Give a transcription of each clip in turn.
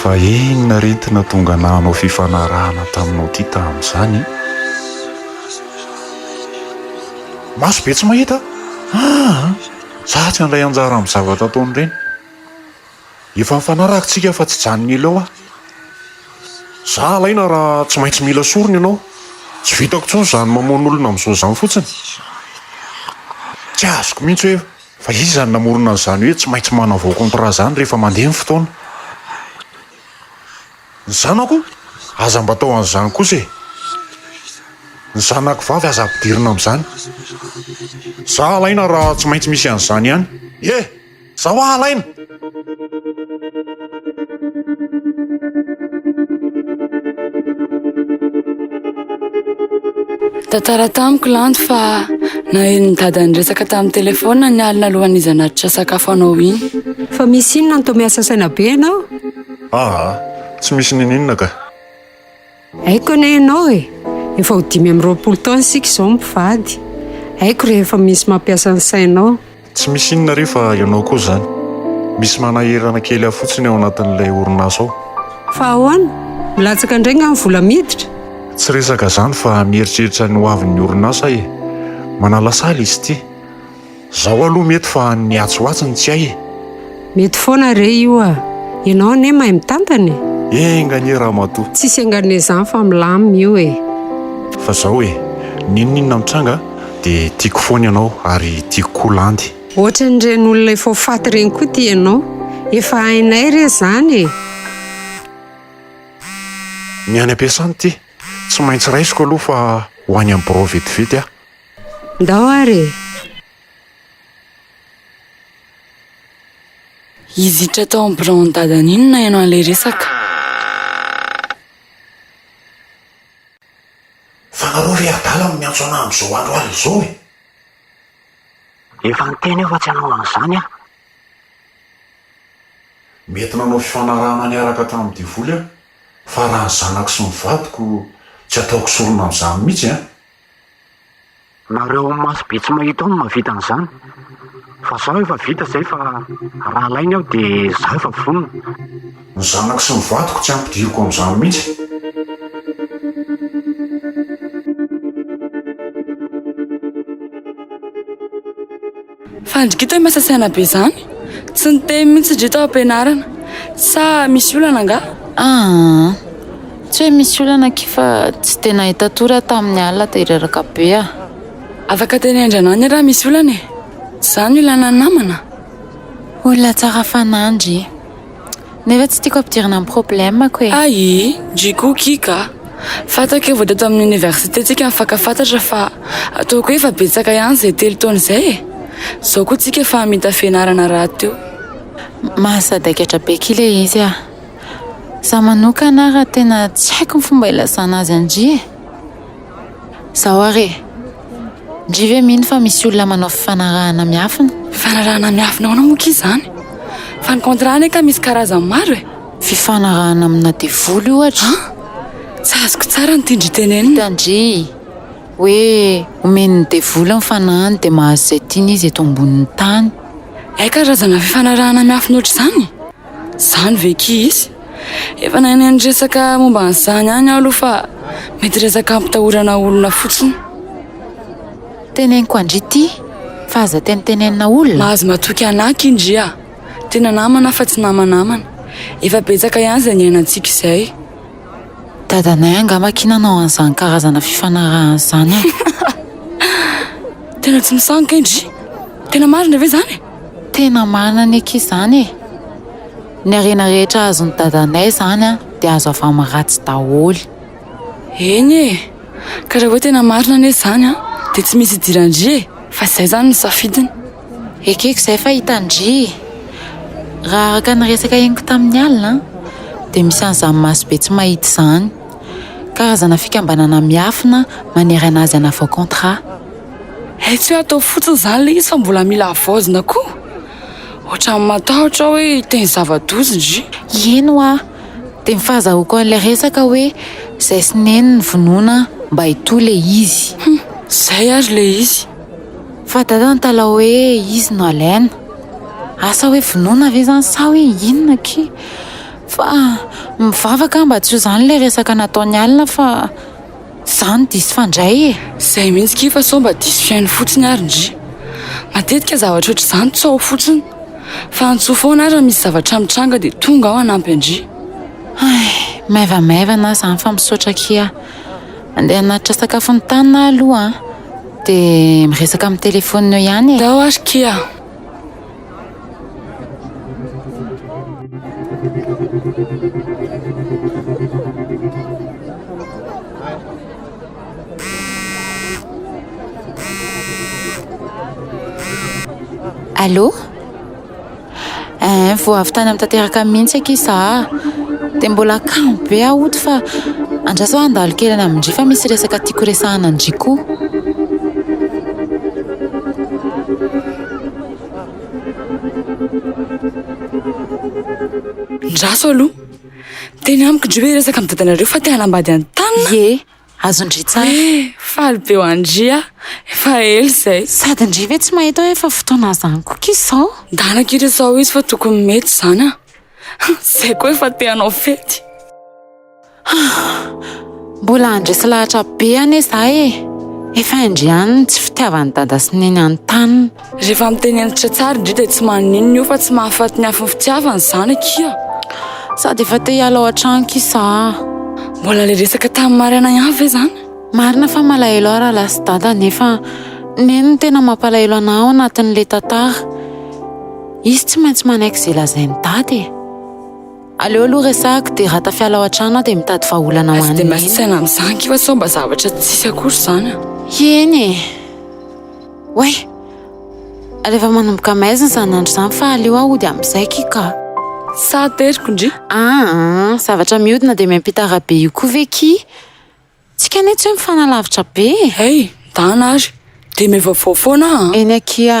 Fa inona re ty natonga anah hanao fifanarahana taminao ty tamin'izany e? Maso be tsy mahita a! Aa! Za tsy handray anjara amin'ny zavatra ataon'ireny. Efa nifanaraka tsika fa tsy hijanona ela eo aho. Za alaina raha tsy maintsy mila sorona ianao. Tsy vitako intsony izany mamono olona amin'izao izany fotsiny. Tsy azoko mihitsy hoe Fa iza no namorona an'izany hoe tsy maintsy manavao contrat izany rehefa mandeha ny fotoana? Ny zanako? Aza mba atao an'izany kosa e! Ny zanako vavy aza ampidirina amin'izany. Za halaina raha tsy maintsy misy an'izany ihany. Ye! Za hoa halaina! Tantara tamiko lanto fa naheno ny dada niresaka tamin'ny telefona ny alina alohan'ny izanatitra sakafo anao iny. Fa misy inona no toa miasa saina be ianao? Aa, tsy misy ninininona ka. Haiko anie ianao e! Efa ho dimy amby roapolo taona isika izao mivady. Haiko rehefa misy mampiasa ny sainao. Tsy misy inona re fa ianao koa izany. Misy manahirana kely ahy fotsiny ao anatin'ilay orinasa ao. Fa ahoana? Milatsaka indray nga ny vola miditra? Tsy resaka izany fa mieritreritra ny hoavin'ny orinasa aho e! Manala sahala izy ity. Zao aloha mety fa an'ny atsy ho atsy ny tsy hay e! Mety foana re io a! Ianao anie mahay mitantana e! Enga anie ramatoa! Tsisy engan'e zany fa milamina io e! Fa zao e! N'inon'inona mitranga dia tiako foana ianao ary tiako koa landy. Ohatran'ireny olona efa ho faty ireny koa ity ianao. Efa hainay re zany e! Ny any am-piasana ity! Tsy maintsy raisiko aloha fa ho any amin'ny birao vetivety aho. Ndao ary e! Hizitra tao amin'ny biraon'ny dadany iny naheno an'ilay resaka. Fa nareo re adala no miantso anah amin'izao andro alina izao e! Efa niteny aho fa tsy hanao an'izany aho. Mety nanao fifanarahana niaraka tamin'ny devoly aho, fa raha ny zanako sy ny vadiko tsy ataoko sorona amin'izany mihitsy an! Nareo amin'ny maso be tsy mahita ao no mahavita an'izany. Fa zaho efa vita izay fa raha alainy aho dia zaho efa vonona. Ny zanako sy ny vadiko tsy ampidiriko amin'izany mihitsy. Fandrikita i Masasiana be zany. Tsy niteny mihitsy ndry tao am-pianarana. Sa misy olana angaha? Ahaa. Tsy hoe misy olana akia fa tsy dia nahita tory aho tamin'ny alina dia reraka be aho. Afaka tenendry anà anie raha misy olana e. Zany ilana namana. Olona tsara fanahy ndry. Nefa tsy tiako ampidirina amin'ny problème-ko e! Ahi! ndry Cookie ka! Fantako efa vao teto amin'ny Université tsika nifankafantatra fa ataoko hoe efa betsaka ihany izay telo taona izay e! Izao koa tsika efa hamita fianarana rahateo. Mahasadaikatra be akia ilay izy ah! Za manokana ara tena tsy haiko ny fomba ilazana azy an-dry e! Zao ary e! Ndry ve mino fa misy olona manao fifanarahana miafina? Fifanarahana miafina ahoana moa kay izany? Fa ny contrat anie kay misy karazany maro e! Fifanarahana amina devoly ohatra. An? Tsy azoko tsara ny tian-dry tenenina. Hitan-dry hoe omen'ny devoly ny fanahiny dia mahazo izay tiany izy eto ambonin'ny tany. Hay karazana fifanarahana miafina ohatr'izany? Zany ve ki izy? Efa nahay niresaka momba an'izany ihany aho aloha fa mety resaka hampitahorana olona fotsiny. Teneniko an-dry ity fa aza tenitenenina olona. Mahazo matoky anà aky indry a! Tena namana fa tsy namanamana. Efa betsaka ihany izay niainantsika izay. Dadanay angaha makia nanao an'izany karazana fifanarahana izany an! Tena tsy misangy kay ndry! Tena marina ve izany e? Tena marina ny akia izany e! Ny harena rehetra azon'i dadanay izany an, dia azo avy amin'ny ratsy daholo. Eny e! Ka raha hoe tena marina anie izany an, dia tsy misy idiran-dry e! Fa izay izany no safidiny. Ekeko izay fa hitan-dry e! Raha araka ny resaka henoko tamin'ny alina dia misy an'izany maso be tsy mahita izany. Karazana fikambanana miafina manerana azy hanavao contrat. Hay tsy hoe atao fotsiny izany ilay izy fa mbola mila havaozina koa. Ohatran'ny matahotra aho hoe hiteny zava-doza ndry. Eny hoa, dia ny fahazahoako an'ilay resaka hoe zay sy neny nivonona mba hitohy ilay izy. Humm, izay ary ilay izy. Fa dada nitalaho hoe izy no alaina. Asa hoe vonoina ve izany sa hoe inona akia? Fa mivavaka aho mba tsy ho izany ilay resaka nataon'i Alina fa izaho no diso fandray e! Izay mihitsy akia fa sao mba diso fihaino fotsiny ary ndry. Matetika zavatra ohatr'izany tsaho fotsiny. Fa antsoy foana ary raha misy zavatra mitranga dia tonga aho hanampy an-dry. Hay, maivamaivana aho izany fa misaotra akia. Andeha hanatitra sakafo nitanina aho aloha an! Dia miresaka amin'ny telefaonina eo ihany e. Zao ary kia. Allô? eh vao avy tany amin'ny tanteraka mihitsy aky za dia mbola kamo be aho oto fa andraso aho handalo kely any amin-dry fa misy resaka tiako resahana an-dry koa andraso aloha teny amiko indry hoe hiresaka amin'ny dadanareo fa te hanambady an'i Tana ieh Azon-dry tsara. Hoe faly be ho an-dry aho. Efa ela izay. Sady ndry ve tsy mahita hoe efa fotoana izany koka izao? Ndana akia re sao izy fa tokony mety izany an! Izay koa efa te hanao fety. Mbola handresy lahatra be anie izaho e! Efa indry ihany ny tsy fitiavan'i Dada sy Neny an'i Tanina. Rehefa miteny hentitra tsara indry dia tsy maninona io fa tsy mahafaty ny hafin'ny fitiavana izany akia. Sady efa te hiala ao an-trano kisa aho. Mbola ilay resaka tamin'i Mariana ihany ve izany? Marina fa malahelo aho raha lasa dada nefa neny no tena mampalahelo anà ao anatin'ilay tantara. Izy tsy maintsy manaiky izay lazain'i dada e. Aleo aloha resahiko dia raha tafiala ao an-trano aho dia mitady vahaolana ho an'i neny. Aza dia miasa saina amin'izany kivy sao mba zavatra tsisy akory izany an! Eny e! Oay! Ary efa manomboka maizina izany andro izany fa aleo aho hody amin'izay ki ka! Sa ateriko ndry? Aa! Zavatra mihodina dia miampita arabe io koa ve ki? Tsika anie tsy hoe mifanalavitra be e! Hey! Midàna ary! Dia mihavaovao foana aho an! Eny akia!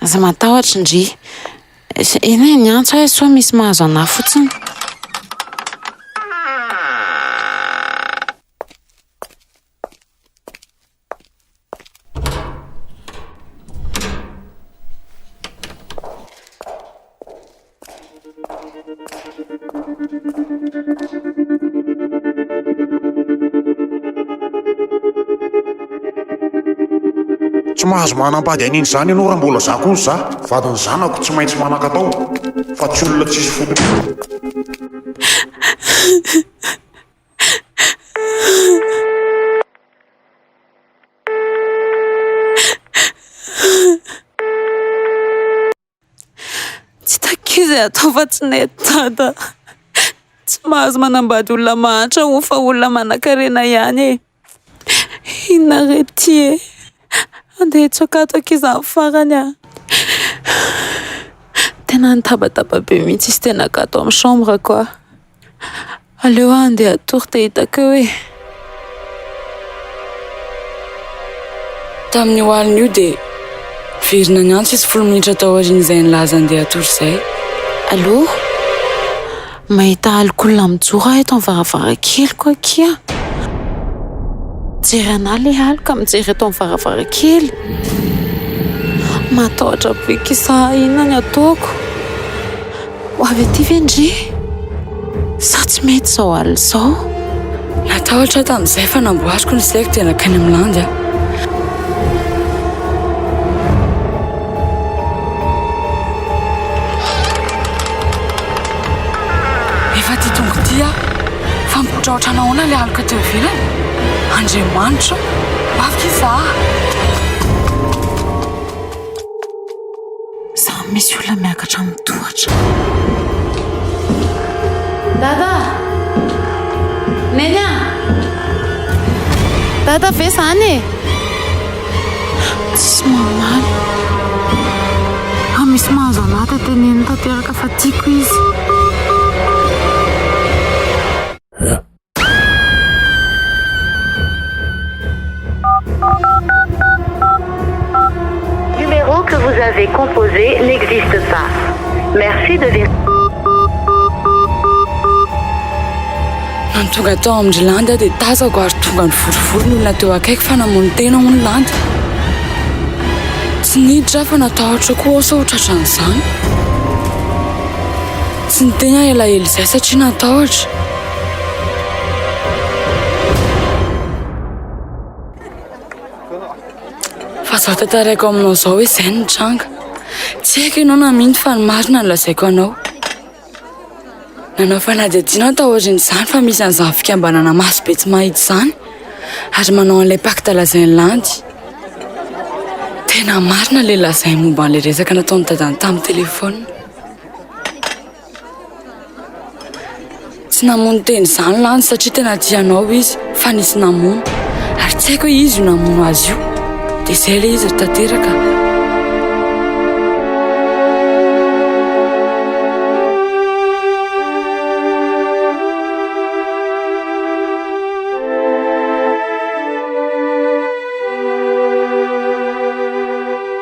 Aza matahotra ndry. Eny e, niantso aho sao misy mahazo anah fotsiny. Tsy mahazo manam-pady an'iny izany ianao raha mbola izaho koa ny za. Vadin'ny zanako tsy maintsy manan-katao fa tsy olona tsisy fototra. Tsy takiko izay atao fa tsy nety dada. Tsy mahazo manambady olona mahantra hono fa olona manankarena ihany e. Inona re ity e. Andeha hitsoaka ato akia za amin'ny farany a. Tena nitabataba be mihitsy izy tena gato amin'ny chambre-ko aho. Aleo aho handeha hatory dia hitako eo e! Tamin'io alina io dia niverina niantso izy folo minitra tao aorian'izay nilaza handeha hatory izay. Allo? Mahita alik'olona mijoro aho eto amin'ny varavarankeliko akia. Mijery an'ahy ilay aloka mijery eto amin'ny varavarankely. Matahotra be kisa inona ny ataoko? Ho avy aty ve ndry? Sa tsy mety izao alina izao? Natahotra aho tamin'izay fa namboariko ny saiko dia nankany amin'ny landy aho. Efa aty tonga ity aho. Fa mipotraotra nahoana ilay aloka teo ivelany? Andriamanitra o! Mafy izaho! Samy misy olona miakatra amin'ny tohatra. Dada! Neny Dada ve zany e? Tsy mamaly. Fa misy mahazo anà tete neny tanteraka fa tiako izy. Numéro que vous avez composé n'existe pas. Merci de Nony tonga tao amin-dry Landy aho dia tazako ary tonga nivorivory ny olona teo akaiky fa namono tena hono Landy. Tsy niditra aho fa natahotra koa aho sao tratran'izany. Tsy niteny aho elaela izay satria natahotra. Aza tantaraiko aminao izao hoe izay no nitranga. Tsy haiko ianao namin'ny fa ny marina no lazaiko anao. Nanao fanadihadiana aho taorian'izany fa misy an'izany fikambanana maso be tsy mahita izany ary manao an'ilay pacte lazain'i Landy. Tena marina ilay lazainy momba an'ilay resaka nataon'i Dadan'i tamin'ny telefaonina. Tsy namono teny izany lany satria tena tia anao izy fa nisy namono ary tsy haiko hoe izy io namono azy io dia izay ilay izy tanteraka